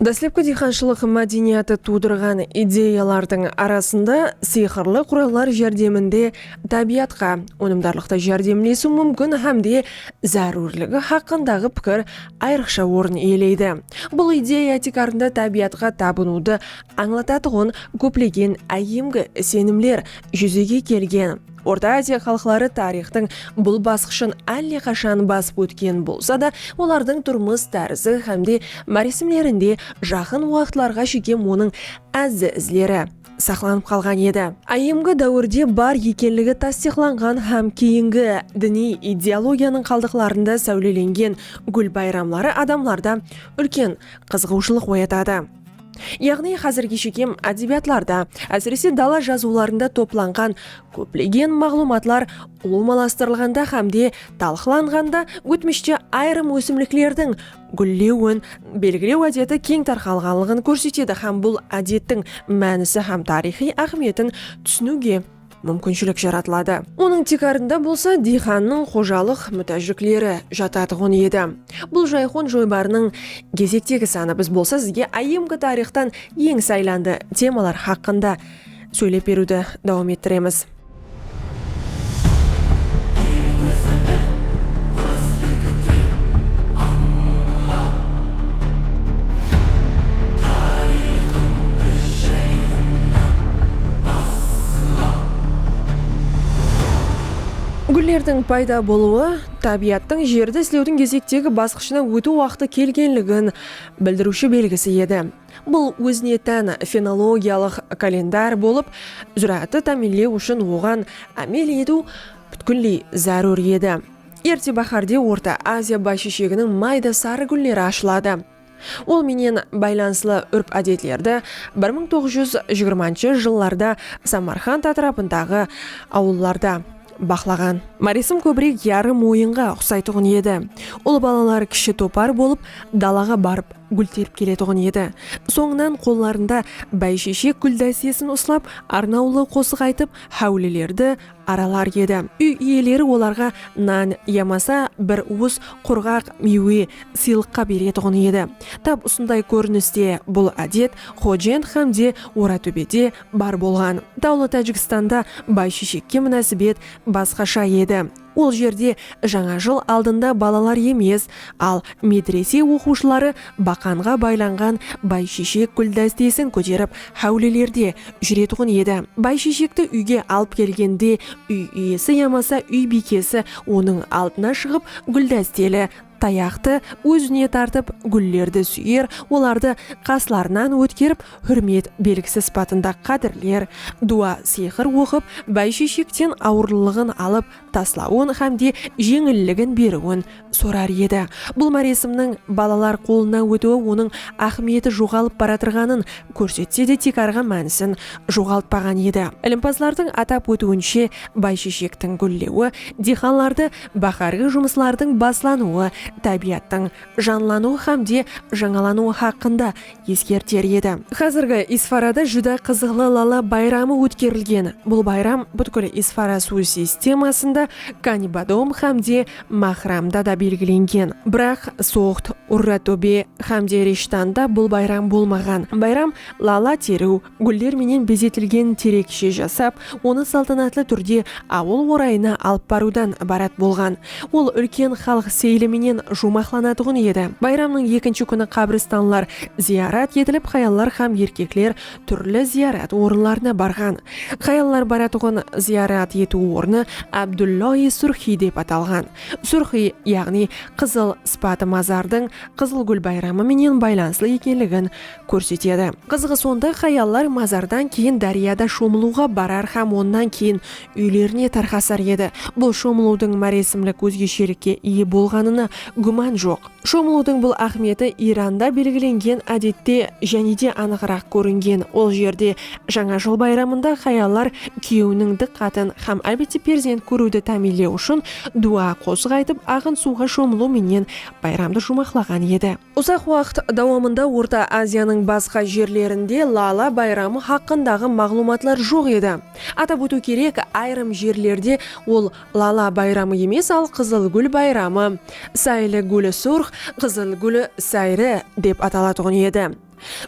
Dáslepki diyxanshılıq mádeniyatı tuwdırǵan ideyalardıń arasında sıyqırlı qurallar járdeminde tábiyatqa ónimdarlıqta járdemlesiw múmkin hámde zárúrligi haqqındaǵı pikir ayrıqsha orın iyeleydi. Bul ideya tiykarında tábiyatqa tabınıwdı ańlatatuǵın kóplegen áyyemgi isenimler júzege kelgen. Orta Aziya xalıqları tariyxtıń bul basqıshın álle qashan basıp ótken bolsa da, olardıń turmıs tárizi hám de máresimlerinde jaqın waqıtlarǵa shekem onıń ázzi izleri saqlanıp qalǵan edi. Áyyemgi dáwirde bar ekenligi tastıyıqlanǵan hám keyingi diniy ideologiyanıń qaldıqlarında sáwlelengen gúl bayramları adamlarda úlken qızıǵıwshılıq oyatadı. Yaǵnıy házirgi shekem ádebiyatlarda, ásirese dala jazıwlarında toplanǵan kóplegen maǵlıwmatlar ulıwmalastırılǵanda hám de talqılanǵanda ótmishte ayırım ósimliklerdiń gúllewin belgilew ádeti keń tarqalǵanlıǵın kórsetedi hám bul ádettiń mánisi hám tariyxıy áhmiyetin túsiniwge múmkinshilik jaratıladı. Onıń tiykarında bolsa diyxannıń xojalıq mútájlikleri jatatuǵın edi. Bul jayxon joybarınıń gezektegi sanı Biz bolsa sizge IMK tariyxtan eń saylandı temalar haqqında sóylep beriwdi dawam ettiremiz. Gúllerdiń payda bolıwı tábiyattıń jerdi islewdiń gezektegi basqıshına ótiw waqtı kelgenligin bildiriwshi belgisi edi. Bul ózine tán fenologiyalıq kalendar bolıp, zúráátti támiyinlew ushın oǵan ámel etiw pútkilley zárúr edi. Erte báhárde Orta Aziya bayshesheginiń mayda sarı gúlleri ashıladı. Ol menen baylanıslı úrp-ádetlerdi bir mıń toǵız júz jigirmanshı jıllarda Samarqand átirapındaǵı awıllarda baqlaǵan. Máresim kóbirek yarım oyınǵa uqsaytuǵın edi. Ul balalar kishi topar bolıp dalaǵa barıp gúl terip keletuǵın edi. Sońınan qollarında báysheshek gúl dástesin uslap arnawlı qosıq aytıp háwlilerdi, aralar edi. Úy iyeleri olarǵa nan yamasa bir uwıs qurǵaq miywe sıylıqqa beretuǵın edi. Tap usınday kóriniste bul ádet Xojent hám de Oratóbede bar bolǵan. Tawlı Tájikstanda baysheshekke múnásibet basqasha edi. Ol jerde Jańa jıl aldında balalar emes, al medrese oqıwshıları Baqanǵa baylanǵan Baysheshek gúldástesin kóterip háwlilerde júretuǵın edi. Baysheshekti úyge alıp kelgende úy iyesi yamasa úy biykesi onıń aldına shıǵıp gúldásteli tayaqtı ózine tartıp gúllerdi súyer, olardı qaslarınan ótkerip húrmet belgisi sıpatında qádirler, duwa-sıyqır oqıp Baysheshekten awırlılıǵın alıp, taslawın hám de jeńilligin beriwin sorar edi. Bul máresimniń balalar qolına ótiwi onıń áhmiyeti joǵalıp baratırǵanın kórsetse de tiykarǵı mánisin joǵaltpaǵan edi. Ilimpazlardıń atap ótiwinshe, baysheshektiń gúllewi, diyxanlardı báhárgi jumıslardıń baslanıwı tábiyattıń janlanıwı hám de jańalanıwı haqqında eskerter edi. Xázirgi Isfarada júdá qızıqlı lala bayramı ótkerilgen. Bul bayram pútkil Isfara suw sistemasında Kanibadom hám de Maxramda da belgilengen. Biraq Soxd, Urratóbe hám de Rishtanda bul bayram bolmaǵan. Bayram lala teriw, Gúller menen bezetilgen terekshe jasap, onı saltanatlı túrde awıl orayına alıp barıwdan ibarat bolǵan. Ol úlken xalıq seyili menen juwmaqlanatuǵın edi. Bayramnıń ekinshi kúni qabristanlar zıyarat etilip, hayallar hám erkekler túrli zıyarat orınlarına barǵan. Hayallar baratuǵın zıyarat etiw ornı Abdulloi Surxi dep atalǵan. Surxi, yaǵnıy Qızıl sıpatı mazardıń Qızılgúl bayramı menen baylanıslı ekenligin kórsetedi. Qızıǵı sonda hayallar mazardan keyin dáryada shomılıwǵa barar hám onnan keyin úylerine tarqasar edi. Bul shomılıwdıń máresimlik ózgeshelikke iye bolǵanına gúman joq. Shomılıwdıń bul áhmiyeti Iranda belgilengen ádette jánede anıǵıraq kóringen, ol jerde Jańa jıl bayramında hayallar kúyewiniń dıqqatın hám ábete perzent kóriwdi támiyinlew ushın dua, qosıq aytıp, aǵın suwǵa shomılıw menen bayramdı juwmaqlaǵan edi. Uzaq waqıt dawamında Orta Aziyanıń basqa jerlerinde lala bayramı haqqındaǵı maǵlıwmatlar joq edi. Atap ótiw kerek, ayırım jerlerde ol lala bayramı emes, al Qızıl gúl bayramı, Sayli gúli surx, Qızıl gúli sayri, dep atalatuǵın edi.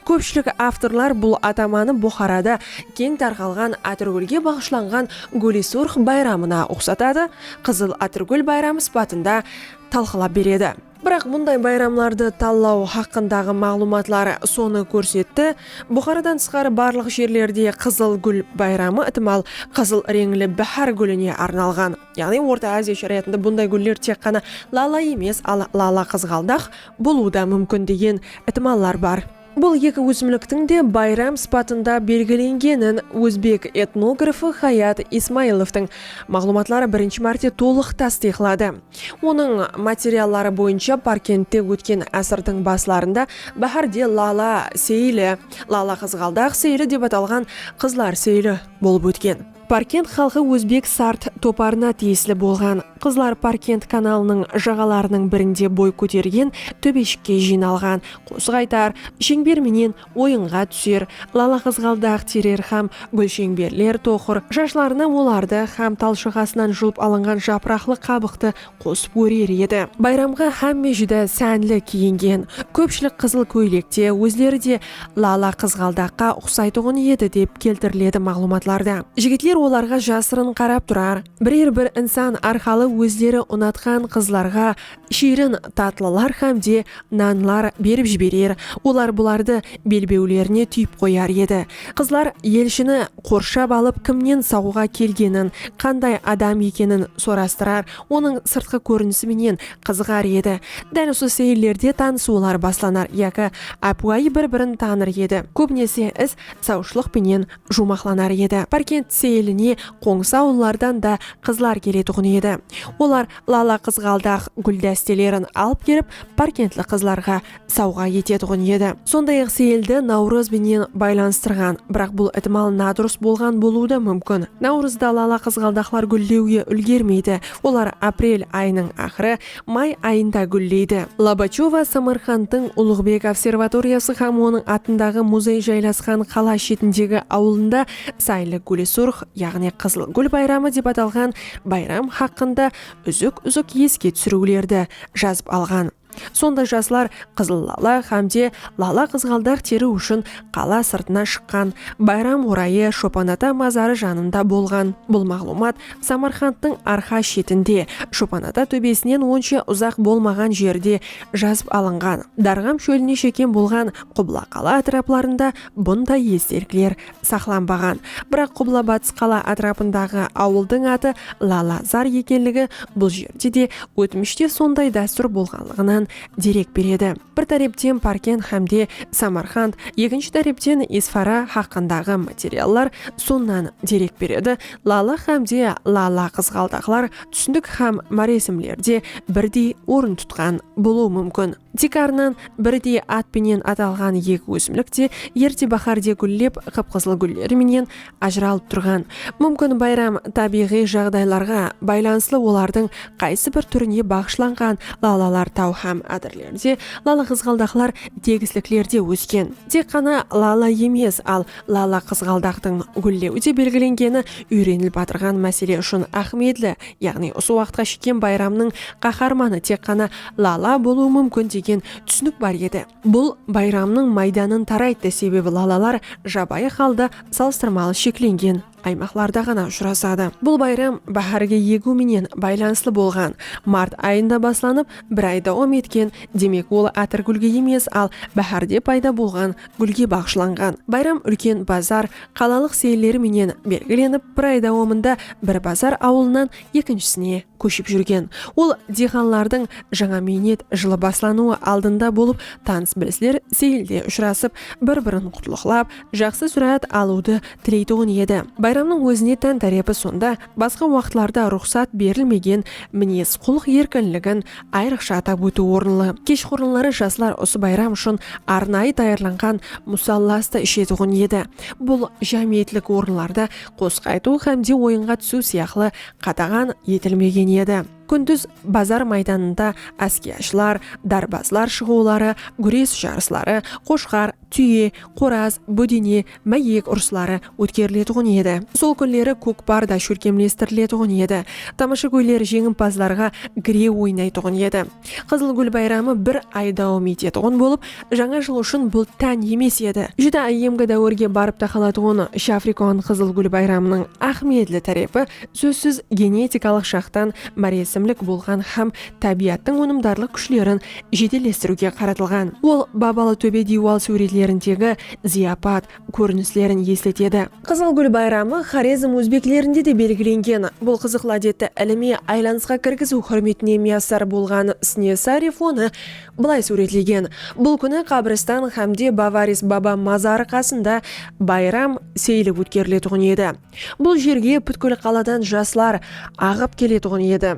Kópshilik avtorlar bul atamanı Buxarada keń tarqalǵan Atırgúlge baǵıshlanǵan Gúli surx bayramına uqsatadı, Qızıl Atırgúl bayramı sıpatında talqılap beredi. Biraq bunday bayramlardı tallaw haqqındaǵı maǵlıwmatlar sonı kórsetti, Buxaradan tısqarı barlıq jerlerde Qızıl gúl bayramı itimal qızıl reńli báhár gúline arnalǵan. Yaǵnıy Orta Aziya sharayatında bunday gúller tek ǵana lala emes, al lala-qızǵaldax bolıwı da múmkin degen itimallar bar. Bul eki ósimliktiń de bayram sıpatında belgilengenin ózbek etnografı Xayat Ismailovtıń maǵlıwmatları birinshi márte tolıq tastıyıqladı. Onıń materialları boyınsha Parkentte ótken ásirdiń baslarında báhárde lala seyili, lala-qızǵaldaq seyili dep atalǵan qızlar seyili bolıp ótken. Parkent xalqı ózbek sart toparına tiyisli bolǵan qızlar Parkent kanalınıń jaǵalarınıń birinde boy kótergen tóbeshikke jıynalǵan, qosıq aytar, sheńber menen oyınǵa túser, lalaqızǵaldaq terer hám gúlsheńberler toqır shashlarına olardı hám talshıǵasınan julıp alınǵan japıraqlı qabıqtı qosıp órer edi. Bayramǵa hámme júdá sánli kiyingen. Kópshilik qızıl kóylekte, ózleri de lala qızǵaldaqqa uqsaytuǵın edi, dep keltiriledi maǵlıwmatlarda. Jigitler olarǵa jasırın qarap turar, birer bir insan arqalı ózleri unatqan qızlarǵa shiyrin tatlılar hám de nanlar berip jiberer, olar bulardı belbewlerine túyip qoyar edi. Qızlar elshini qorshap alıp kimnen saǵuǵa kelgenin, qanday adam ekenin sorastırar, onıń sırtqı kórinisi menen qızıǵar edi. Dál usı seyillerde tanısıwlar baslanar yaki ápiwayı bir-birin tanır edi. Kóbinese is sawshılıq penen juwmaqlanar edi. Párkent seyiline qońsı awıllardan da qızlar keletuǵın edi. Olar lala-qızǵaldaq gúldastelerin alıp kelip párkentli qızlarǵa sawǵa etetuǵın edi. Sonday-aq Seyildi Nawrız benen baylanıstırǵan, biraq bul itimal nadurıs bolǵan bolıwı da múmkin. Nawrızda lala qızǵaldaqlar gúllewge úlgermeydi, olar aprel ayınıń aqırı, may ayında gúlleydi. Lobachova Samarqandtıń Ulıǵbek observatoriyası hám onıń atındaǵı muzey jaylasqan qala shetindegi awılında Saylı gúli surx, yaǵnıy qızıl gúl bayramı dep atalǵan bayram haqqında úzik-úzik eske túsiriwlerdi jazıp alǵan. Sonda jaslar qızıl lala hám de lala qızǵaldaq teriw ushın qala sırtına shıqqan. Bayram orayı Shopanata mazarı janında bolǵan. Bul maǵlıwmat Samarqandtıń arqa shetinde, Shopanata tóbesinen onsha uzaq bolmaǵan jerde jazıp alınǵan. Darǵam shóline shekem bolǵan Qubla qala átiraplarında bunday estelikler saqlanbaǵan. Biraq qubla-batıs qala átirapındaǵı awıldıń atı Lala-zar ekenligi bul jerde de ótmishte sonday dástúr bolǵanlıǵınan derek beredi. Bir tárepten Parkent hám de Samarqand, ekinshi tárepten Isfara haqqındaǵı materiallar sonnan derek beredi, Lala hám de Lala-qızǵaldaqlar túsindik hám máresimlerde birdey orın tutqan bolıwı múmkin. Tiykarınan birdey at penen atalǵan eki ósimlik te erte báhárde gúllep, qıp-qızıl gúlleri menen ajıralıp turǵan. Múmkin bayram tábiyǵıy jaǵdaylarǵa baylanıslı olardıń qaysı bir túrine baǵıshlanǵan lalalar taw hám ádirlerde, lala-qızǵaldaqlar tegisliklerde ósken. Tek ǵana lala emes, al lala-qızǵaldaqtıń gúllewi de belgilengeni úyrenilip atırǵan másele ushın áhmiyetli, Yaǵnıy usı waqıtqa shekem bayramnıń qaharmanı tek ǵana Lala bolıwı múmkin degen túsinik bar edi. Bul bayramnıń maydanın tarayttı, sebebi lalalar jabayı halda salıstırmalı sheklengen aymaqlarda ǵana ushırasadı. Bul bayram báhárgi egiw menen baylanıslı bolǵan. Mart ayında baslanıp, bir ay dawam etken, demek ol átirgúlge emes, al báhárde payda bolǵan gúlge baǵıshlanǵan. Bayram úlken bazar, qalalıq seyilleri menen belgilenip bir ay dawamında Birbazar awılınan ekinshisine kóship júrgen ol diyxanlardıń jańa miynet jılı baslanıwı aldında bolıp tanıs-bilisler seyilde ushırasıp bir birin qutlıqlap jaqsı súráát alıwdı tileytuǵın edi bayramnıń ózine tán tárepi sonda basqa waqıtlarda ruxsat berilmegen minez-qulıq erkinligin Ayrıqsha atap ótiw orınlı, keshqurınları jaslar usı bayram ushın arnayı tayarlanǵan musallas ta ishetuǵın edi. Bul jámiyetlik orınlarda qosıq aytıw hám de oyınǵa túsiw sıyaqlı qadaǵan etilmegen edi. Kúndiz bazar maydanında áskiyashılar, darbazlar shıǵıwları, gúres jarısları, qoshqar, túye, qoraz, bódene, máyek urısları ótkeriletuǵın edi. Sol kúnleri kókpar da shólkemlestiriletuǵın edi. Tamashagóyler jeńimpazlarǵa gire oynaytuǵın edi. Qızıl gúl bayramı bir ay dawam etetuǵın bolıp, Jańa jıl ushın bul tán emes edi. Júdá áyyemgi dáwirge barıp taqalatuǵın Shafrikon qızıl gúl bayramınıń áhmiyetli tárepi, sózsiz, genetikalıq jaqtan máresimlik bolǵan hám tábiyattıń ónimdarlıq kúshlerin jedellestiriwge qaratılǵan. Ol Babalı tóbe diywal súwretlerindegi zıyapat, kórinislerin esletedi. Qızıl gúl bayramı Xorezm ózbeklerinde de belgilengen. Bul qızıqlı ádetti ilimiy aylanısqa kirgiziw húrmetine miyasar bolǵan Snesarev onı bılay súwretlegen, Bul kúni qabristan hámde Bavaris baba mazarı qasında bayram, seyili ótkeriletuǵın edi. Bul jerge pútkil qaladan jaslar aǵıp keletuǵın edi.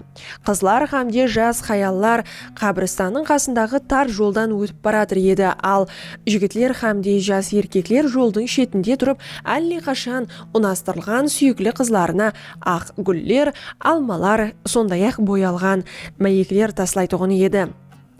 Qızlar xámde jas xayallar qábirstannıń qasındaǵı tar joldan ótip baratır edi, al, jigitler xámde jas erkekler joldıń shetinde turıp álle qashan unastırılǵan súyikli qızlarına aq gúller, almalar, sonday-aq boyalǵan máyekler taslaytuǵın edi.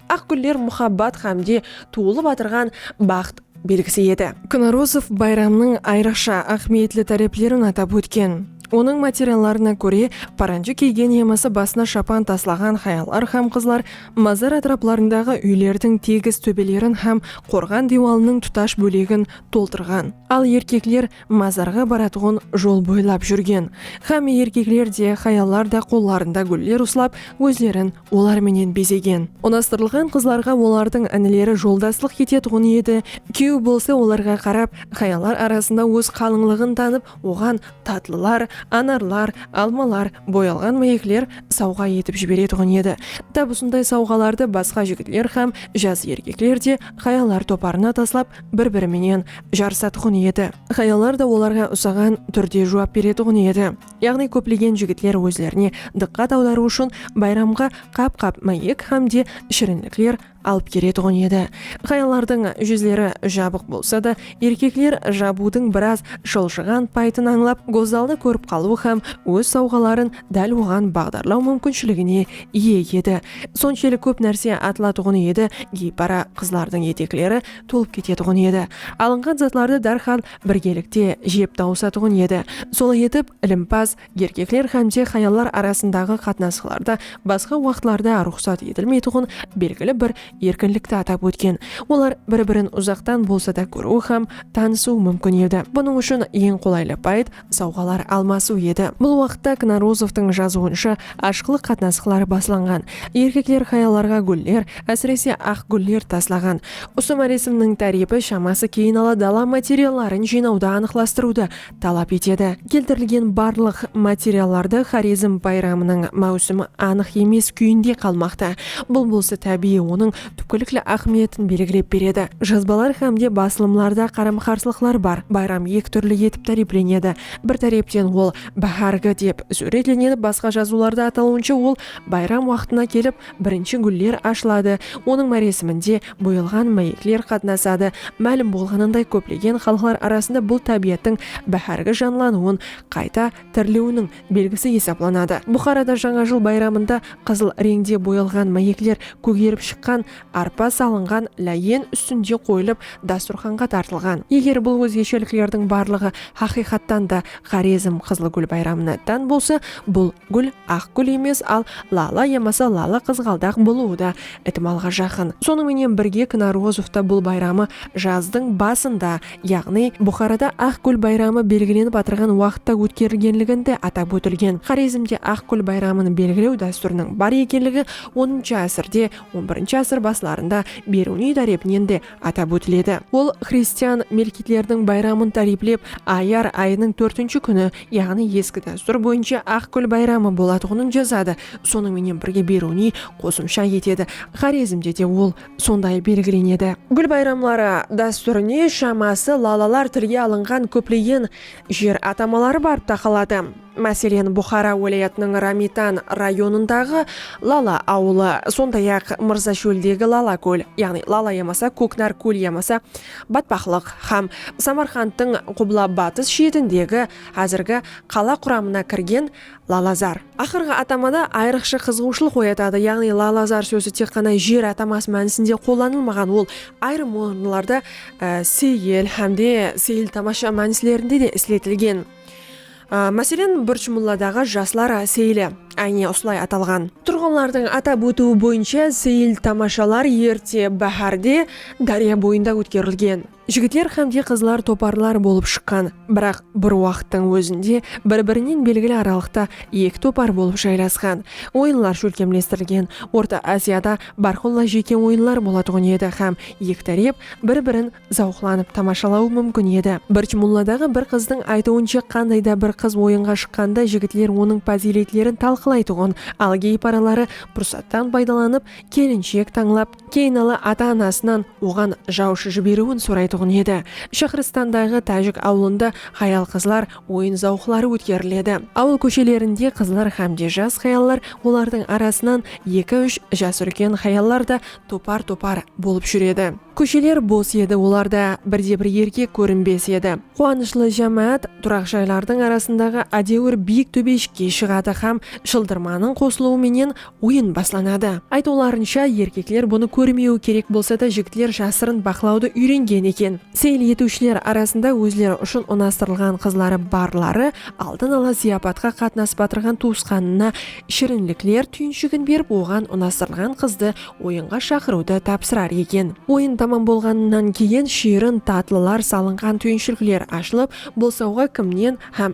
Aq gúller muhabbat ǵámde tuwılıp atırǵan baxt belgisi edi. Knarozov bayramnıń ayrıqsha áhmiyetli táreplerin atap ótken. Onıń materiallarına kóre, paranjı kiygen yamasa basına shapan taslaǵan hayallar hám qızlar mazar átiraplarındaǵı úylerdiń tegis tóbelerin hám qorǵan diywalınıń tutash bólegin toltırǵan, al erkekler Mazarǵa baratuǵın jol boylap júrgen xámme erkekler de, hayallar da qollarında gúller uslap, ózlerin olar menen bezegen. Unastırılǵan qızlarǵa olardıń inileri joldaslıq etetuǵın edi, kúyew bolsa olarǵa qarap, hayallar arasında óz qalıńlıǵın tanıp, oǵan tatlılar, anarlar, almalar, boyalǵan máyekler sawǵa etip jiberetuǵın edi. Tap usınday sawǵalardı basqa jigitler hám jas erkekler de hayallar toparına taslap, bir-biri menen jarısatuǵın edi. Hayallar da olarǵa usaǵan túrde juwap beretuǵın edi. Yaǵnıy kóplegen jigitler ózlerine dıqqat awdarıw ushın bayramǵa qap-qap máyek hám de shirinlikler alıp keretuǵın edi. Hayallardıń júzleri jabıq bolsa da, erkekler jabıwdıń biraz shıljıǵan payıtın ańlap, gózzaldı kórip qalıw hám óz sawǵaların dál oǵan baǵdarlaw múmkinshiligine iye edi. Sonshelik kóp nárse atılatuǵın edi, geypara qızlardıń etekleri tolıp ketetuǵın edi. Alınǵan zatlardı dárhal birgelikte jep tawısatuǵın edi. Solay etip, ilimpaz erkekler hámde hayallar arasındaǵı qatnasıqlarda basqa waqıtlarda ruxsat etilmeytuǵın belgili bir erkinlikti atap ótken. Olar bir-birin uzaqtan bolsa da kóriwi hám tanısıwı múmkin edi. Bunıń ushın eń qolaylı payıt sawǵalar almasıw edi. Bul waqıtta Knarozovtıń jazıwınsha ashıqlıq qatnasıqları baslanǵan. Erkekler hayallarǵa gúller, ásirese aq gúller taslaǵan. Usı máresimniń tárepi shaması keyin ala dala materialların jıynawdı anıqlastırıwdı talap etedi. Keltirilgen barlıq materiallardı Xorezm bayramınıń máwsimi anıq emes kúyinde qalmaqta. Bul bolsa tábiyiy onıń túpkilikli áhmiyetin belgilep beredi. Jazbalar hámde basılımlarda qaram-qarsılıqlar bar. Bayram eki túrli etip táriyplenedi. Bir tárepten ol Báhárgi dep súwretlenedi, basqa jazıwlarda atalıwınsha ol bayram waqtına kelip, birinshi gúller ashıladı, onıń máresiminde boyalǵan máyekler qatnasadı. Málim bolǵanınday kóplegen xalıqlar arasında bul tábiyattıń báhárgi janlanıwın, qayta tiriliwiniń, belgisi esaplanadı. Buxarada Jańa jıl bayramında qızıl reńde boyalǵan máyekler kógerip shıqqan arpa salınǵan láyen ústinde qoyılıp dasturxanǵa tartılǵan. Eger bul ózgesheliklerdiń barlıǵı haqıyqattan da Xorezm qızıl gúl bayramına tán bolsa, bul gúl aq gúl emes, al lala yamasa lala qızǵaldaq bolıwı da itimalǵa jaqın. Sonıń menen birge Knarozovta bul bayramı jazdıń basında yaǵnıy Buxarada Aq gúl bayramı belgilenip atırǵan waqıtta ótkerilgenliginde atap ótilgen. Xorezmde Aq gúl bayramın belgilew dástúriniń bar ekenligi onıncı ásirde, on birinshi ásir baslarında Beruniy tárepinen de atap ótiledi. Ol xristian melkitlerdiń bayramın táriplep, Ayar ayınıń tórtinshi kúni, yaǵnıy eski dástúr boyınsha Aq gúl bayramı bolatuǵının jazadı. Sonıń menen birge Beruniy qosımsha etedi, Xorezmde de ol. sonday belgilenedi. Gúl bayramları dástúrine shaması lalılar tilge alınǵan kóplegen jer atamaları barıp taqaladı. Máselen, Buxara wálayatınıń Ramitan rayonındaǵı Lala awılı, sonday-aq, Mırzashóldegi Lala kól, yaǵnıy Lala yamasa Kóknar kól yamasa Batpaqlıq hám Samarqandtıń qubla-batıs shetindegi, házirgi, qala quramına kirgen Lalazar. Aqırǵı atamada ayrıqsha qızıǵıwshılıq oyatadı, yaǵnıy Lalazar sózi tek ǵana jer ataması mánisinde qollanılmaǵan, ol ayırım orınlarda Seyil hám de Seyil-tamasha mánislerinde de isletilgen. Máselen, Burch mulladaǵı jaslar Seyili, áyne, usılay atalǵan. Turǵınlardıń atap ótiwi boyınsha Seyil-tamashalar erte báhárde dárya boyında ótkerilgen. Jigitler hám de qızlar toparlar bolıp shıqqan, biraq bir waqıttıń ózinde bir-birinen belgili aralıqta eki topar bolıp jaylasqan. Oyınlar shólkemlestirilgen Orta Aziyada bárqulla jeke oyınlar bolatuǵın edi hám eki tárep bir-birin zawıqlanıp tamashalawı múmkin edi. Birtmulladaǵı bir qızdıń aytıwınsha qanday da bir qız oyınǵa shıqqanda jigitler onıń pazıyletlerin talqılaytuǵın, al geyparaları pursattan paydalanıp kelinshek tańlap, Keynala ata-anasınan oǵan jawshı jiberiwin soraytuǵın edi. Shaxristandaǵı tájik awılında xayal-qızlar oyın zawqları ótkeriledi. Awıl kóshelerinde qızlar xámde jas xayallar, olardıń arasınan eki-úsh jas úlken xayallar da topar-topar bolıp júredi. Kósheler bos edi, olarda birde-bir erkek kórinbes edi. Quwanıshlı jámáát turaq jaylardıń arasındaǵı ádewir biyik tóbeshikke shıǵadı xám shıldırmanıń qosılıwı menen Oyın baslanadı. Aytıwlarınsha, erkekler bunı kórmewi kerek bolsa da, jigitler jasırın baqlawdı úyrengen eken. Seyil etiwshiler arasında ózleri ushın unastırılǵan qızları barları aldın ala zıyapatqa qatnasıp atırǵan tuwısqanına shirinlikler túyinshigin berip oǵan unastırılǵan qızdı oyınǵa shaqırıwdı tapsırar eken. Oyın tamam bolǵanınan keyin shiyrin, tatlılar salınǵan túyinshlikler ashılıp, bolsawǵa kimnen hám.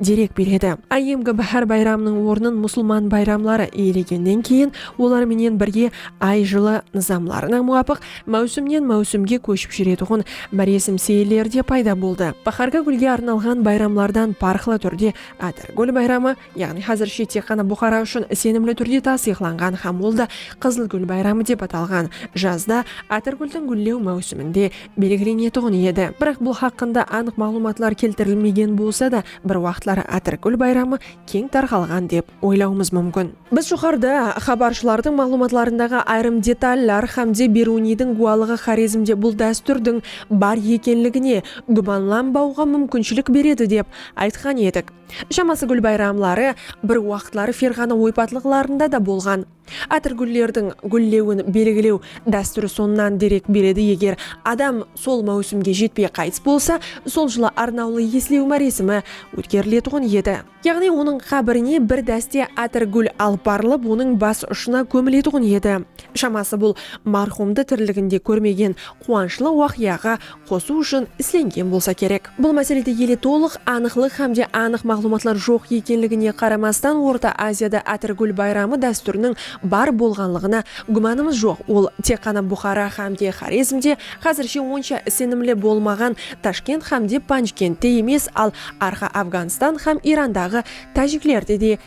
derek beredi. Áyyemgi báhár bayramınıń ornın musılman bayramları iyelegennen keyin, olar menen birge ay jılı nızamlarına muwapıq máwsimnen máwsimge kóship júretuǵın máresim seyilleri de payda boldı. Báhárgi gúlge arnalǵan bayramlardan parıqlı túrde Átirgúl bayramı, yaǵnıy házirshe tek ǵana Buxara ushın isenimli túrde tastıyıqlanǵan hám ol da Qızılgúl bayramı dep atalǵan, jazda Átirgúldiń gúllew máwsiminde, belgilenetuǵın edi. Biraq bul haqqında anıq maǵlıwmatlar keltirilmegen bolsa da, bir waqıtlar Atirgúl bayramı keń tarqalǵan dep oylawımız múmkin. Biz joqarıda xabarshılardıń maǵlıwmatlarındaǵı ayırım detallar hámde Beruniydiń gúwalıǵı Xorezmde bul dástúrdiń bar ekenligine gúmanlanbawǵa múmkinshilik beredi dep aytqan edik. Shaması gúl bayramları bir waqıtları Ferǵana oypatlıqlarında da bolǵan. Átirgúllerdiń gúllewin belgilew dástúri sonnan derek beredi, eger adam sol máwsimge jetpey qaytıs bolsa, sol jılı arnawlı eslew máresimi ótkeriletuǵın edi. Yaǵnıy onıń qábirine bir dáste átirgúl alıp barılıp, onıń bas ushına kómiletuǵın edi. Shaması bul marhumdı tiriliginde kórmegen quwanıshlı waqıyaǵa qosıw ushın islengen bolsa kerek. Bul máselede ele tolıq anıqlıq hám de anıq maǵlıwmatlar joq ekenligine qaramastan Orta Aziyada Átirgúl bayramı dástúriniń bar bolǵanlıǵına gúmanımız joq, ol tek ǵana Buxara hám de Xorezmde, házirshe onsha islenimli bolmaǵan Tashkent hám de Panjkentte emes, al Arqa Afǵanstan hám Irandaǵı tájiklerde de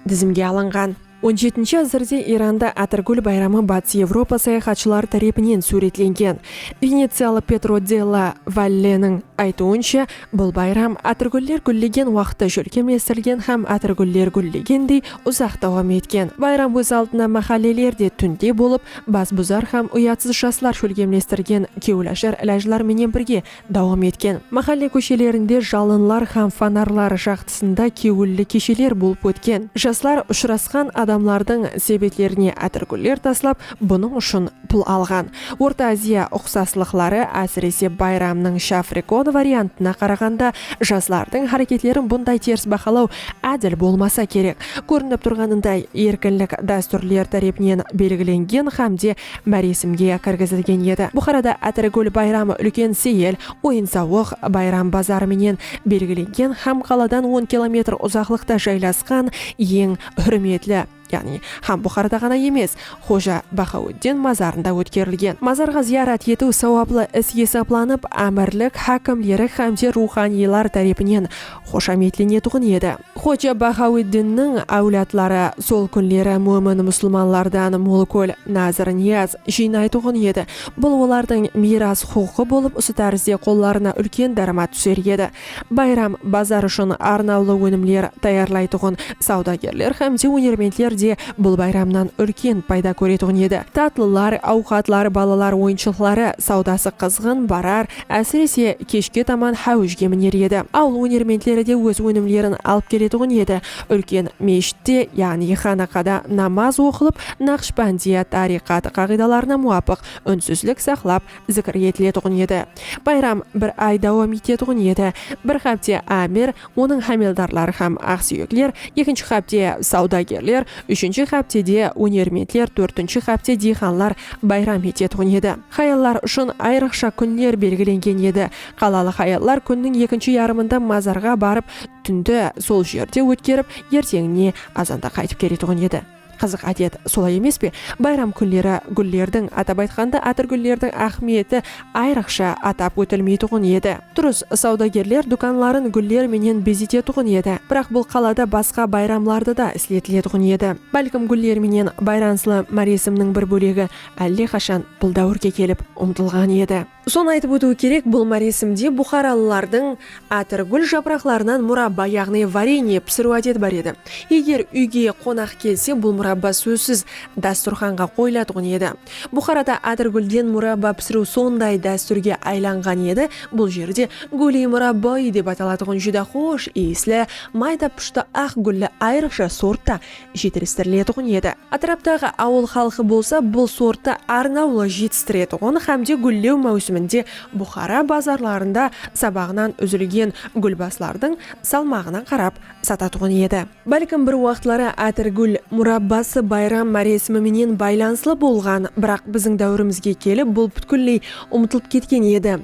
dizimge alınǵan. On jetinshi ásirde Iranda Átirgúl bayramı Batıs Evropa sayaxatshıları tárepinen súwretlengen. Veneciyalı Petro de la Valleniń aytıwınsha, bul bayram átirgúller gúllegen waqıtta shólkemlestirilgen hám átirgúller gúllegendey uzaq dawam etken. Bayram óz aldına máhállelerde túnde bolıp, bas buzar hám uyatsız jaslar shólkemlestirgen kewilashar ilajlar menen birge Dawam etken. Máhálle kóshelerinde jalınlar hám fonarlar jaqtısında kewilli kesheler bolıp ótken. Jaslar ushırasqan adamlardıń sebetlerine átirgúller taslap, bunıń ushın pul alǵan. Orta Aziya uqsaslıqları, ásirese bayramnıń shafrekon variantına qaraǵanda, jaslardıń háreketlerin bunday ters bahalaw ádil bolmasa kerek. Kórinip turǵanınday, erkinlik dástúrler tárepinen belgilengen hám de máresimge kirgizilgen edi. Buxarada Átirgúl bayramı úlken seyil, oyın-sawıq, bayram bazarı menen belgilengen hám qaladan on kilometr uzaqlıqta jaylasqan eń húrmetli, yaǵnıy, hám Buxarada ǵana emes, Xoja Baxaúddin mazarında ótkerilgen. Mazarǵa zıyarat etiw sawaplı is esaplanıp, ámirlik hákimleri hámde ruwxanıylar tárepinen xoshametlenetuǵın edi. Xoja Bahawiddinniń áwladları sol kúnleri mómin musılmanlardan molkúl, nazr-niyaz, jıynaytuǵın edi. Bul olardıń miyras huqıqı bolıp usı tárizde qollarına úlken dáramat túser edi. Bayram, bazar ushın arnawlı ónimler tayarlaytuǵın sawdagerler hám de ónermentler de bul bayramnan úlken payda kóretuǵın edi. Tatlılar, awqatlar, balalar oyınshıqları sawdası qızǵın barar Ásirese, keshke taman háwishke miner edi. Awıl ónermentleri de óz ónimlerin alıp keletuǵın edi. Úlken meshitte, yaǵnıy xanaqada namaz oqılıp, Naqshbandiya tariqatı qaǵıydalarına muwapıq únsizlik saqlap, zikir etiletuǵın edi. Bayram bir ay dawam etetuǵın edi. Bir hápte ámir Onıń hámeldarları hám aqsúyekler, ekinshi hápte, sawdagerler, úshinshi háptede, ónermentler, tórtinshi hápte diyxanlar bayram etetuǵın edi. Hayallar ushın ayrıqsha kúnler belgilengen edi. Qalalıq hayallar kúnniń ekinshi yarımında mazarǵa barıp, túndi sol jerde ótkerip, erteńine azanda qaytıp keletuǵın edi. Qızıq ádet, solay emes pe? Bayram kúnleri gúllerdiń, atap aytqanda atırgúllerdiń áhmiyeti ayrıqsha atap ótilmeytuǵın edi. Durıs, sawdagerler dúkanların gúller menen bezetetuǵın edi, biraq bul qalada basqa bayramlarda da isletiletuǵın edi. Bálkim gúller menen bayranslı máresimniń bir bólegi álle qashan bul dáwirge kelip umtılǵan edi. Sonı aytıp ótiw kerek, bul máresimde buxaralılardıń átir, gúl japıraqlarınan murabba, yaǵnıy varenie, pisiriw ádeti bar edi. Eger úyge qonaq kelse, bul murabba sózsiz dásturxanǵa qoyılatuǵın edi. Buxarada átir gúlden murabba pisiriw sonday dástúrge aylanǵan edi, bul jerde gúl-i murabbo-i dep atalatuǵın júdá xosh iyisli, mayda-pushti aq gúlli ayrıqsha sortta jetilistiriletuǵın edi. Átiraptaǵı awıl xalqı bolsa bul sorttı arnawlı jetistiretuǵın hámde gúllew máwsiminde Buxara bazarlarında sabaǵınan úzilgen gúlbaslardıń salmaǵına qarap satatuǵın edi. Bálkim bir waqıtları átirgúl murabbası bayram máresimi menen baylanıslı bolǵan, biraq biziń dáwirimizge kelip bul pútkilley umıtılıp ketken edi.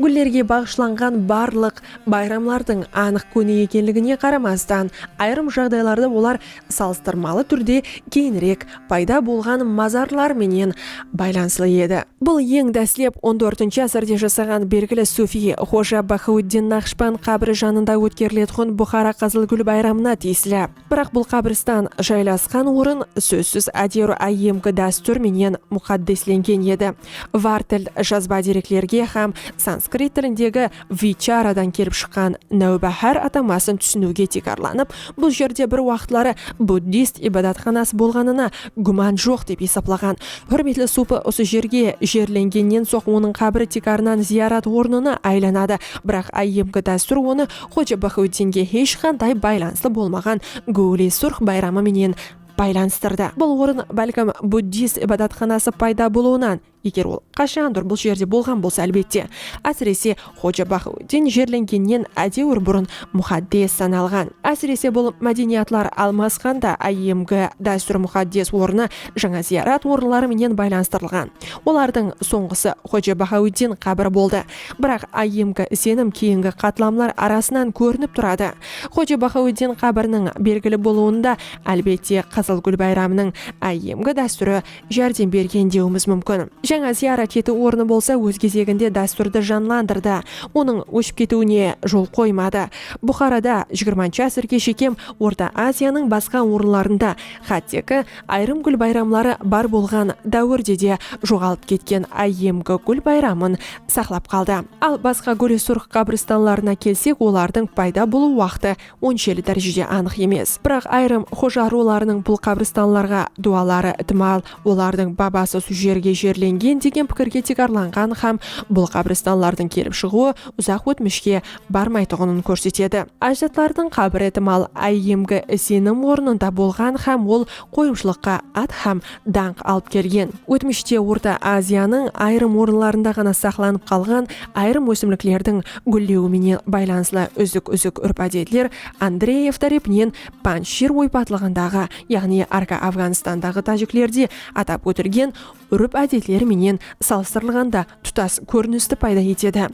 Gúllerge baǵıshlanǵan barlıq bayramlardıń anıq kúni ekenligine qaramastan, ayırım jaǵdaylarda olar salıstırmalı túrde keyinirek payda bolǵan mazarlar menen baylanıslı edi. Bul eń dáslep on dórtinshi ásirde jasaǵan belgili sufiy xoja Baxauddin Naqshband qábiri janında ótkeriletuǵın Buxara Qızıl gúl bayramına tiyisli. Biraq bul qábiristan jaylasqan orın sózsiz áderu áyyemgi dástúr menen muqaddeslengen edi. Vartel jazba dereklerge hám sanskrit tilindegi vicharadan kelip shıqqan Náwbáhár atamasın túsiniwge tiykarlanıp, bul jerde bir waqıtları buddist ibadatxanası bolǵanına gúman joq dep esaplaǵan húrmetli supi usı jerge jerlengennen soń onıń qábiri tiykarınan ziyarat ornına aylanadı. Biraq áyyemgi dástúr onı Xoja Baxauddinge hesh qanday baylanıslı bolmaǵan Gówli surx bayramı menen baylanıstırdı. Bul orın, bálkim, buddist ibadatxanası payda bolıwınan, eger ol qashandur bul jerde bolǵan bolsa, álbette, ásirese, Xoja Baxauddin jerlengennen ádewir burın muxaddes sanalǵan. Ásirese, bul mádeniyatlar almasqanda áyyemgi dástúr muxaddes ornı jańa zıyarat orınları menen baylanıstırılǵan. Olardıń sońǵısı Xoja Baxauddin qábiri boldı. Biraq IMK isenim keyingi qatlamlar arasınan kórinip turadı. Xoja Baxaweddin qábiriniń belgili bolıwında, álbette, Qızıl gúl bayramınıń IMK dástúri járdem bergen dewimiz múmkin. Jańa zıyarat etiw ornı bolsa óz gezeginde dástúrdi janlandırdı, onıń óship ketiwine jol qoymadı. Buxarada jigirmanshı ásirge shekem Orta Aziyanıń basqa orınlarında, xátteki, Ayırım gúl bayramları bar bolǵan dáwirde de joǵalıp ketken áyyemgi gúl bayramın saqlap qaldı. Al, basqa góresurıq ǵabiristanlarına kelsek, olardıń payda bolıw waqtı onsheli dárejede anıq emes. Biraq ayırım xoja ruwlarınıń bul qabristanlarǵa duwaları itimal olardıń babası su jerge jerlengen degen pikirge tiykarlanǵan hám bul qabristanlardıń kelip shıǵıwı uzaq ótmishke barmaytuǵının kórsetedi. Ájdatlardıń qábir itimal áyyemgi isenim ornında bolǵan hám ol qoyımshılıqqa at hám dańq alıp kelgen. Ótmishte Orta Aziyanıń ayırım orınlarında ǵana saqlanıp qalǵan ayırım ósimliklerdiń gúllewi menen baylanıslı úzik-úzik úrp-ádetler Andreev tárepinen Panjshir oypatlıǵındaǵı, yaǵnıy Arka Afǵanistandaǵı tájiklerde atap ótilgen úrip-ádetler menen salıstırılǵanda tutas kórinisti payda etedi.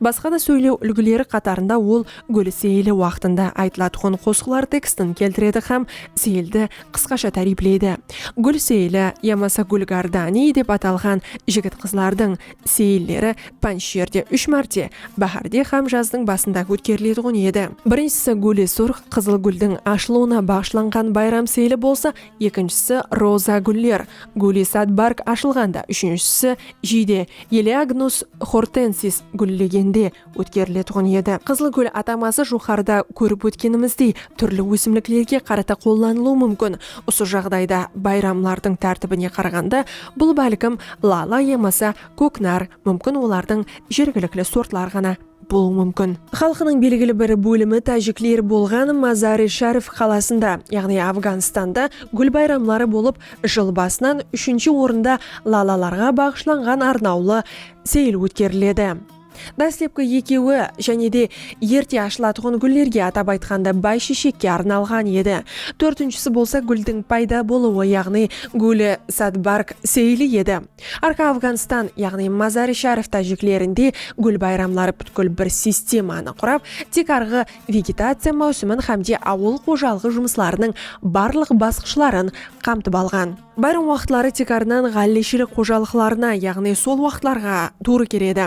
Basqa da sóylew úlgileri qatarında ol Gúl seyili waqtında aytılatuǵın qosıqlar tekstin keltiredi hám seyildi qısqasha táriyipleydi. Gúl seyili yamasa Gúl Gardaniy dep atalǵan jigit-qızlardıń seyilleri pánjsherde úsh márte, báhárde hám jazdıń basında ótkeriletuǵın edi. Birinshisi Gúl-i-Surx, Qızıl gúldiń ashılıwına baǵıshlanǵan bayram seyili bolsa, ekinshisi roza gúller, Gúlisad barg ashılǵanda, úshinshisi jiyde Eleagnus hortensis gúllegende ótkeriletuǵın edi. Qızıl gúl ataması joqarıda kórip ótkenimizdey túrli ósimliklerge qarata qollanılıwı múmkin. Usı jaǵdayda bayramlardıń tártibine qaraǵanda bul bálkim lala yamasa kóknar, múmkin olardıń jergilikli sortları ǵana. bolıwı múmkin. Xalqınıń belgili bir bólimi tájikler bolǵan Mazar-i-Sharif qalasında, yaǵnıy Afganstanda gúl bayramları bolıp, jıl basınan úshinshi orında lalalarǵa baǵıshlanǵan arnawlı seyil ótkeriledi. Dáslepki ekewi, jáne de, erte ashılatuǵın gúllerge, atap aytqanda, báysheshekke arnalǵan edi. Tórtinshisi bolsa gúldiń payda bolıwı, yaǵnıy Gúl-i Sadbarg seyili edi. Arqa Afǵanstan, yaǵnıy Mazar-i Sharif tájiklerinde gúl bayramları pútkil bir sistemanı qurap, tiykarǵı vegetaciya máwsimin hámde awıl xojalıǵı jumıslarınıń barlıq basqıshların qamtıp alǵan. Bayram waqıtları tiykarınan ǵálleshilik xojalıqlarına, yaǵnıy sol waqıtlarǵa tuwrı keledi.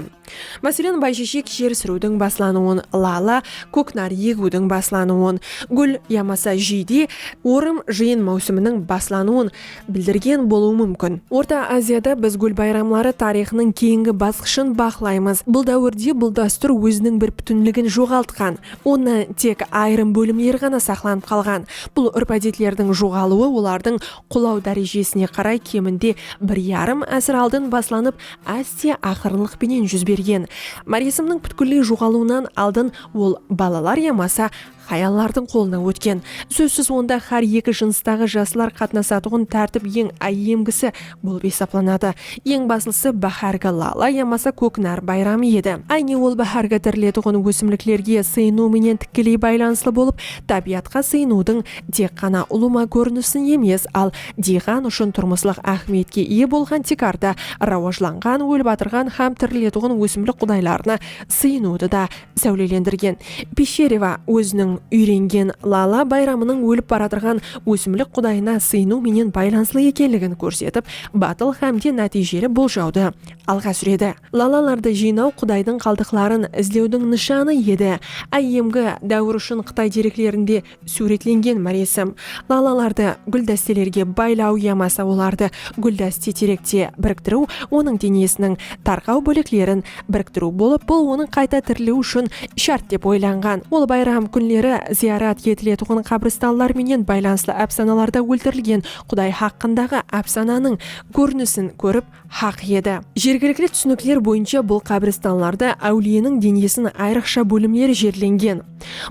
Máselen, baysheshek jer súriwdiń baslanıwın, lala, kóknar egiwdiń baslanıwın, gúl yamasa jiyde, orım, jıyın máwsiminiń baslanıwın bildirgen bolıwı múmkin. Orta Aziyada biz gúl bayramları tariyxınıń keyingi basqıshın baqlaymız. Bul dáwirde bul dástúr óziniń bir pútinligin joǵaltqan, onnan tek ayırım bólimleri ǵana saqlanıp qalǵan. Bul úrp-ádetlerdiń joǵalıwı olardıń qulaw dárejesine qaray keminde bir yarım ásir aldın baslanıp, Áste aqırınlıq penen júz bergen máresimniń pútkilley joǵalıwınan aldın ol balalar yamasa hayallardıń qolına ótken. Sózsiz onda hár eki jınıstaǵı jaslar qatnasatuǵın tártip eń áyyemgisi bolıp esaplanadı. Eń baslısı báhárgi lala yamasa kók nar bayramı edi. Áyne ol báhárgi tiriletuǵın ósimliklerge sıyınıw menen tikkeley baylanıslı bolıp, tábiyatqa sıyınıwdıń tek ǵana ulıwma kórinisin emes, al diyqan ushın turmıslıq áhmiyetke iye bolǵan tiykarda rawajlanǵan, ólip atırǵan hám tiriletuǵın ósimlik qudaylarına sıyınıwdı da sáwlelendirgen. Pishereva óziniń úyrengen lala bayramınıń ólip baratırǵan ósimlik qudayına sıyınıw menen baylanıslı ekenligin kórsetip, batıl hám de nátiyjeli boljawdı alǵa súredi. Lalalardı jıynaw qudaydıń qaldıqların izlewdiń nıshanı edi. IMG dáwir ushın Qıtay dereklerinde. Súwretlengen máresim, lalalardı gúldásteleriǵe baylaw yamasa olardı gúldáste terekte biriktiriw onıń denesiniń tarqaw bóleklerin biriktiriw bolıp, bul onıń qayta tiriliwi ushın shárt dep oylanǵan. Ol bayram kúnleri zıyarat etiletuǵın qabristanlar menen baylanıslı ápsanalarda óltirilgen quday haqqındaǵı ápsananıń kórinisin kórip, haq edi. Jergilikli túsinikler boyınsha bul qábiristanlarda áwliyeniń denesin ayrıqsha bólimler jerlengen.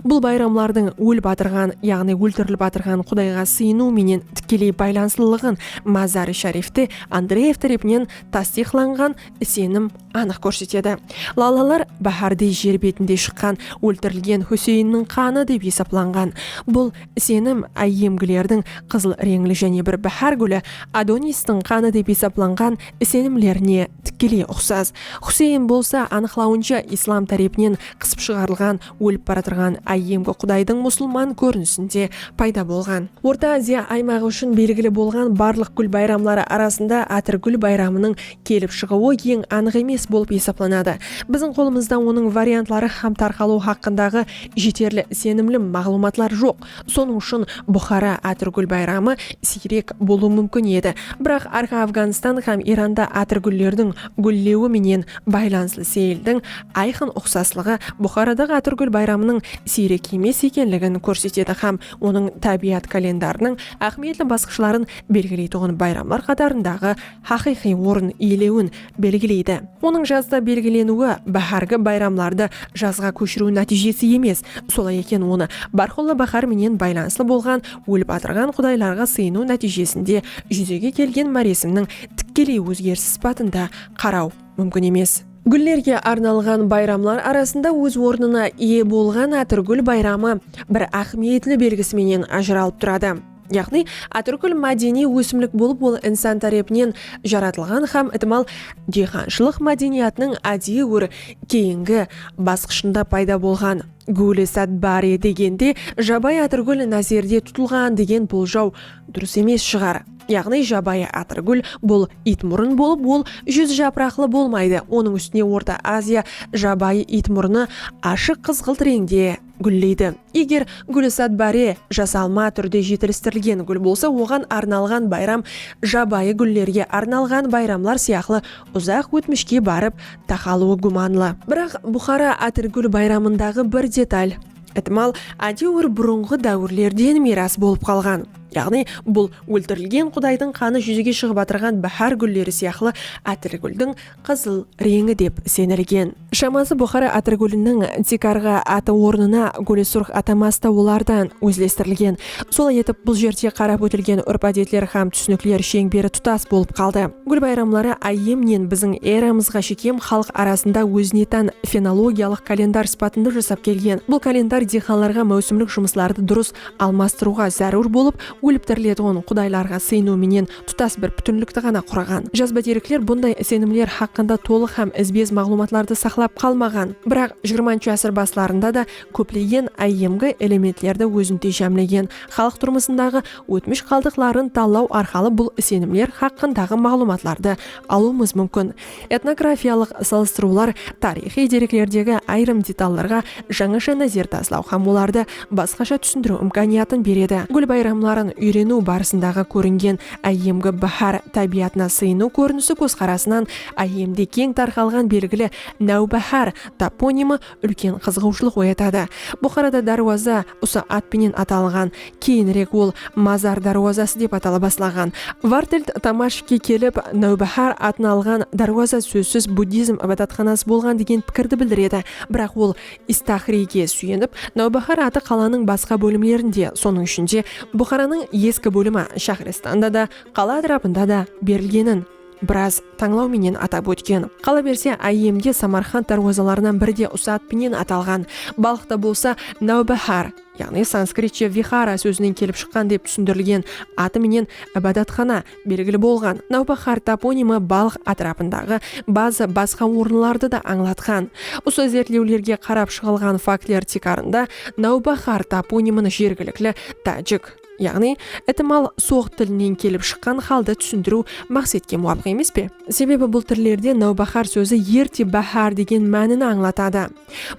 Bul bayramlardıń ólip atırǵan, yaǵnıy óltirilip atırǵan qudayǵa sıyınıw menen tikkeley baylanıslılıǵın Mazar-i Sharifte Andreev tárepinen tastıyıqlanǵan isenim anıq kórsetedi. Lalalar báhárdey jer betinde shıqqan óltirilgen Húseyinniń qanı dep esaplanǵan bul Isenim, áyyemgilerdiń qızıl reńli jáne bir báhár gúli, Adonistiń qanı dep esaplanǵan isenimlerine tikkeley uqsas. Xuseyn bolsa, anıqlawınsha, islam tárepinen qısıp shıǵarılǵan ólip baratırǵan áyyemgi qudaydıń musılman kórinisinde payda bolǵan. Orta Aziya aymaǵı ushın belgili bolǵan barlıq gúl bayramları arasında Átir gúl bayramınıń kelip shıǵıwı eń anıq emes bolıp esaplanadı. Biziń qolımızda onıń variantları hám tarqalıwı haqqındaǵı jeterli isenimli maǵlıwmatlar joq. Sonıń ushın Buxara Átirgúl bayramı siyrek bolıwı múmkin edi. Biraq Arqa Afǵanstan hám Iranda átirgúllerdiń gúllewi menen baylanıslı seyildiń ayqın uqsaslıǵı Buxaradaǵı Átirgúl bayramınıń siyrek emes ekenligin kórsetedi hám onıń tábiyat kalendarınıń áhmiyetli basqıshların belgileytuǵın bayramlar qatarındaǵı haqıyqıy orın iyelewin belgileydi. Onıń jazda belgileniwi báhárgi bayramlardı jazǵa kóshiriw nátiyjesi emes, solay eken onı bárqulla báhár menen baylanıslı bolǵan ólip atırǵan qudaylarǵa sıyınıw nátiyjesinde júzege kelgen máresimniń tikkeley ózgerisi sıpatında qaraw múmkin emes. Gúllerge arnalǵan bayramlar arasında óz ornına iye bolǵan Átırgúl bayramı bir áhmiyetli belgisi menen ajıralıp turadı. Yaǵnıy, atirgúl mádeniy ósimlik bolıp ol insan tárepinen jaratılǵan hám itimal diyxanshılıq mádeniyatınıń ádiyi bir keyingi basqıshında payda bolǵan. Gúli sát bar e degende jabayı atirgúl názerde tutılǵan degen boljaw durıs emes shıǵar. Yaǵnıy jabayı atirgúl bul iytmurın bolıp ol júz japıraqlı bolmaydı, onıń ústine Orta Aziya jabayı iytmurını ashıq qızǵılt reńde, gúlleydi. Eger gúlisat báre jasalma túrde jetilistirilgen gúl bolsa oǵan arnalǵan bayram jabayı gúllerge arnalǵan bayramlar sıyaqlı uzaq ótmishke barıp taqalıwı gúmanlı. Biraq Buxara Atirgúl bayramındaǵı bir detal, itimal, átewir burınǵı dáwirlerden miyras bolıp qalǵan. Yaǵnıy bul óltirilgen qudaydıń qanı júzege shıǵıp atırǵan báhár gúlleri sıyaqlı Atirgúldiń qızıl, reńi dep isenilgen. Shaması Buxara Atırgúliniń tiykarǵı atı ornına Gúli Surx atamasi da olardan ózlestirilgen. Solay etip, bul jerde qarap ótilgen úrp-ádetler hám túsinikler sheńberi tutas bolıp qaldı. Gúl bayramları áyyemnen biziń eramızǵa shekem xalıq arasında ózine tán fenologiyalıq kalendar sıpatında jasap kelgen. Bul kalendar diyxanlarǵa máwsimlik jumıslardı durıs almastırıwǵa zárúr bolıp, gúliptiriletuǵın qudaylarǵa sıyınıw menen tutas bir pútinlikti ǵana quraǵan. Jazba derekler bunday isenimler haqqında tolıq hám izbe-iz maǵlıwmatlardı saqlap qalmaǵan. Biraq, xxi ásir baslarında da kóplegen áyyemgi elementlerdi ózinde jámlegen xalıq turmısındaǵı ótmish qaldıqların tallaw arqalı bul isenimler haqqındaǵı maǵlıwmatlardı alıwımız múmkin. Etnografiyalıq salıstırıwlar tariyxıy dereklerdegi ayırım detallarǵa jańasha názer taslaw hám olardı basqasha túsindiriw imkaniyatın beredi. Gúl bayramların úyreniw barısındaǵı kóringen áyyemgi báhár tábiyatına sıyınıw kórinisi kózqarasınan áyyemde keń tarqalǵan belgili Náwbáhár toponimi úlken qızıǵıwshılıq oyatadı. Buxarada dárwaza usı at penen atalǵan, keyinirek ol Mazar dárwazası dep atala baslaǵan. Vartild Tamashvke kelip, Náwbáhár atın alǵan dárwaza sózsiz buddizm ibadatxanası bolǵan degen pikirdi bildiredi, biraq ol Istaxriyge súyenip, Náwbáhár atı qalanıń basqa bólimlerinde, sonıń ishinde, Buxaranıń eski bólimi Shaxristanda da, qala átirapında da berilgenin, biraz tańlaw menen atap ótken. Qalaberse, áyyemde Samarqand dárwazalarınan biri de usat penen atalǵan, Balxta bolsa Náwbáhár, yaǵnıy sanskritce Vihara sózinen kelip shıqqan dep túsindirilgen atı menen Ibadatxana belgili bolǵan. Náwbáhár toponimi Balx átirapındaǵı bazı basqa orınlardı da ańlatqan. Usı izertlewlerge qarap shıǵılǵan faktler tiykarında Náwbáhár toponimin jergilikli tájik. Yaǵnıy, itimal, soǵ tilinen kelip shıqqan halda túsindiriw maqsetke muwapıq emes pe? Sebebi bul tillerde náwbáhár sózi erte báhár degen mánini ańlatadı.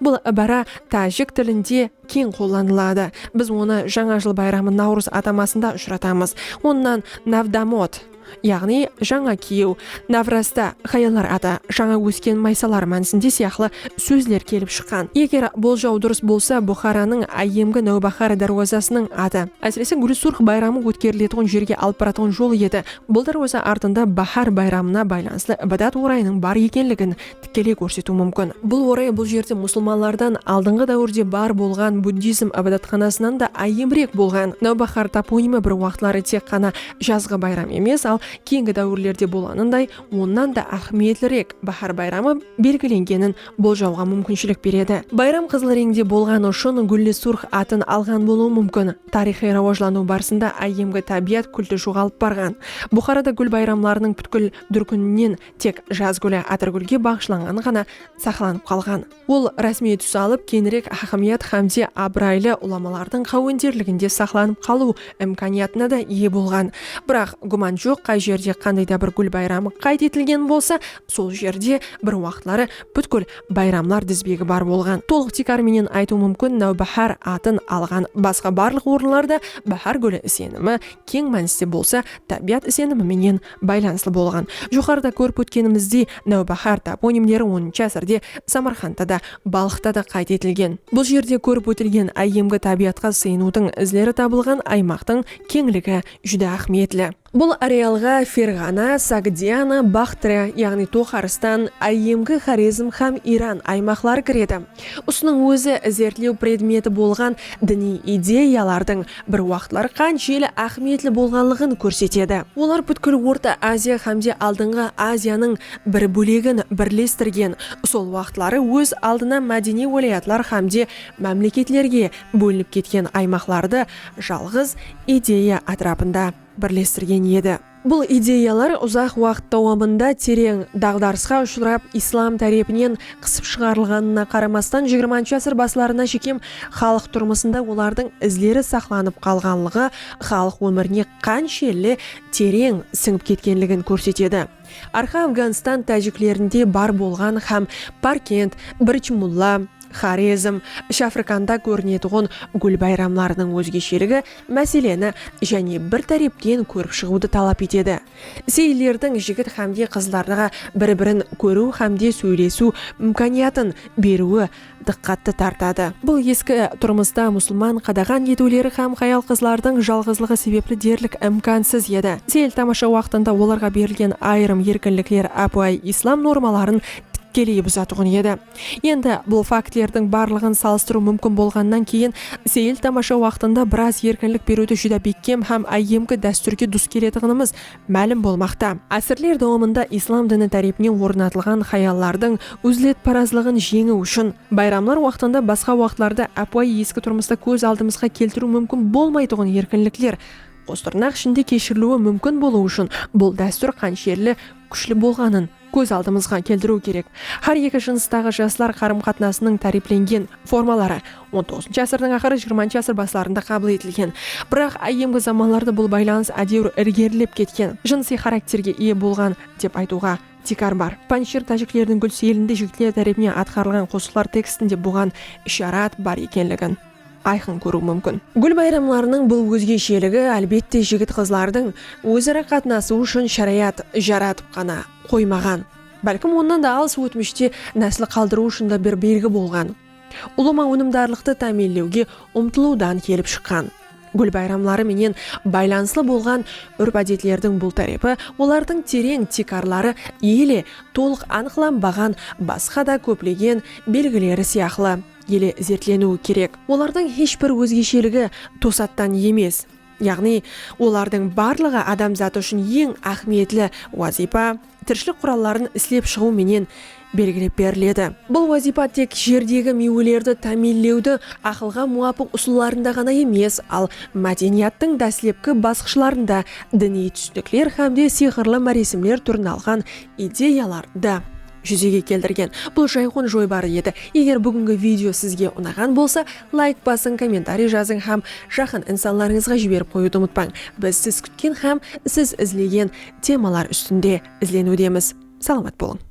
Bul ibara tájik tilinde keń qollanıladı. Biz onı Jańa jıl bayramı Nawrız atamasında ushıratamız. Onnan Navdamot. yaǵnıy jańa kiyiw, navrasta, hayallar atı, jańa ósken maysalar mánisinde sıyaqlı sózler kelip shıqqan. Eger boljaw durıs bolsa, Buxaranıń áyyemgi Náwbahar dárwazasınıń atı, ásirese Gúli Surx bayramı ótkeriletuǵın jerge alıp baratuǵın jol edi. Bul dárwaza artında Bahar bayramına baylanıslı ibadat orayınıń bar ekenligin tikeley kórsetiw múmkin. Bul oray bul jerde musılmanlardan aldınǵı dáwirde bar bolǵan buddizm ibadatxanasınan da áyyemrek bolǵan Nawbahar toponimi bir waqıtları tek ǵana jazǵı bayram emes, al keyingi dáwirlerde bolanınday onnan da áhmiyetlirek Báhár bayramı belgilengenin boljawǵa múmkinshilik beredi. Bayram qızıl reńde bolǵanı ushın Gúlli surx atın alǵan bolıwı múmkin. Tariyxıy rawajlanıw barısında áyyemgi tábiyat kúlti joǵalıp barǵan. Buxarada gúl bayramlarınıń pútkil dúrkininen Tek Jaz gúli Atirgúlge baǵıshlanǵan ǵana saqlanıp qalǵan. Ol rásmiy tús alıp, keńirek hákimiyat hámde abıraylı ulamalardıń qáwenderliginde saqlanıp qalıw imkaniyatına da iye bolǵan. Biraq, gúman joq, qay jerde qanday da bir gúl bayramı qayd etilgen bolsa, sol jerde bir waqıtları pútkil bayramlar dizbegi bar bolǵan. Tolıq tiykar menen aytıw múmkin, Náwbáhár atın alǵan basqa barlıq orınlarda báhár gúli isenimi keń mániste bolsa, tábiyat isenimi menen baylanıslı bolǵan. Joqarıda kórip ótkenimizdey, Náwbáhár toponimleri onıncı ásirde Samarqandta da, Balxta da qayd etilgen. Bul jerde kórip ótilgen áyyemgi tábiyatqa sıyınıwdıń izleri tabılǵan aymaqtıń keńligi júdá áhmiyetli. Bul arealǵa Ferǵana, Sogdiana, Baxtriya, yaǵnıy Toxaristan, áyyemgi Xorezm hám Iran aymaqları kiredi. Usınıń ózi izertlew predmeti bolǵan diniy ideyalardıń bir waqıtlar qanshelli áhmiyetli bolǵanlıǵın kórsetedi. Olar pútkil Orta Aziya hámde Aldınǵı Aziyanıń bir bólegin birlestirgen, sol waqıtları óz aldına mádeniy wálayatlar hámde mámleketlerge bólinip ketken aymaqlardı jalǵız ideya átirapında birlestirgen edi. Bul ideyalar uzaq waqıt dawamında tereń daǵdarısqa ushırap, islam tárepinen qısıp shıǵarılǵanına qaramastan xx asır baslarına shekem xalıq turmısında olardıń izleri saqlanıp qalǵanlıǵı xalıq ómirine qanshelli tereń sińip ketkenligin kórsetedi. Arqa Afǵanstan tájiklerinde bar bolǵan hám Parkent, Birch Mulla, Xorezm, Ish Afrikanda kórinetuǵın gúl bayramlarınıń ózgesheligi máseleni jáne bir tárepten kórip shıǵıwdı talap etedi. Seyillerdiń jigit hámde qızlardıǵa bir-birin kóriw hámde sóylesiw imkaniyatın beriwi dıqqattı tartadı. Bul eski turmısta musılman qadaǵan etiwleri hám hayal-qızlardıń jalǵızlıǵı sebepli derlik imkansız edi. Seyil-tamasha waqtında olarǵa berilgen ayırım erkinlikler ápiwayı islam normaların tikkeley buzatuǵın edi. Endi, bul faktlerdiń barlıǵın salıstırıw múmkin bolǵannan keyin, seyil-tamasha waqtında biraz erkinlik beriwdi júdá bekkem hám áyyemgi dástúrge dus keletuǵınımız málim bolmaqta. Ásirler dawamında islam dini tárepinen ornatılǵan hayallardıń úzletparazlıǵın jeńiw ushın, bayramlar waqtında basqa waqtlarda ápiwayı eski turmısta kóz aldımızǵa keltiriw múmkin bolmaytuǵın erkinlikler, qos tırnaq ishinde, keshiriliwi múmkin bolıwı ushın bul dástúr qanshelli kúshli bolǵanın, kóz aldımızǵa keltiriw kerek. Hár eki jınıstaǵı jaslar qarım-qatnasınıń táriyplengen formaları on toǵızınshı asırdıń aqırı, jigirmanshı asır baslarında qabıl etilgen. Biraq, áyyemgi zamanlarda bul baylanıs ádewir ilgerilep ketken, jınısıy xarakterge iye bolǵan, dep aytıwǵa tiykar bar. Panjshir tájiklerdiń gúlseylindi jigitler tárepinen atqarılǵan qosıqlar tekstinde buǵan isharat bar ekenligin. ayqın kóriw múmkin. Gúl bayramlarınıń bul ózgesheligi, álbette, jigit-qızlardıń óz-ara qatnasıwı ushın sharayat jaratıp ǵana qoymaǵan, bálkim onnan da alıs ótmishte násl qaldırıw ushın da bir belgi bolǵan, ulıwma ónimdarlıqtı támiyinlewge umtılıwdan kelip shıqqan. Gúl bayramları menen baylanıslı bolǵan úrp-ádetlerdiń bul tárepi olardıń tereń tiykarları ele tolıq anıqlanbaǵan basqa da kóplegen belgileri sıyaqlı, ele izertleniwi kerek. Olardıń hesh bir ózgesheligi tosattan emes, yaǵnıy olardıń barlıǵı adamzat ushın eń áhmiyetli wazıypa, tirishilik quralların islep shıǵıw menen belgilep beriledi. Bul wazıypa tek jerdegi miywelerdi támiyinlewdi aqılǵa muwapıq usıllarında ǵana emes, al mádeniyattıń dáslepki basqıshlarında diniy túsinikler hámde sıyqırlı máresimler túrin alǵan ideyalar da júzege keltirgen bul jayqon joybarı edi eger búgingi video sizge unaǵan bolsa layk basıń kommentariy jazıń hám jaqın insanlarıńızǵa jiberip qoyıwdı umıtpań biz siz kútken hám siz izlegen temalar ústinde izleniwdemiz salamat bolıń.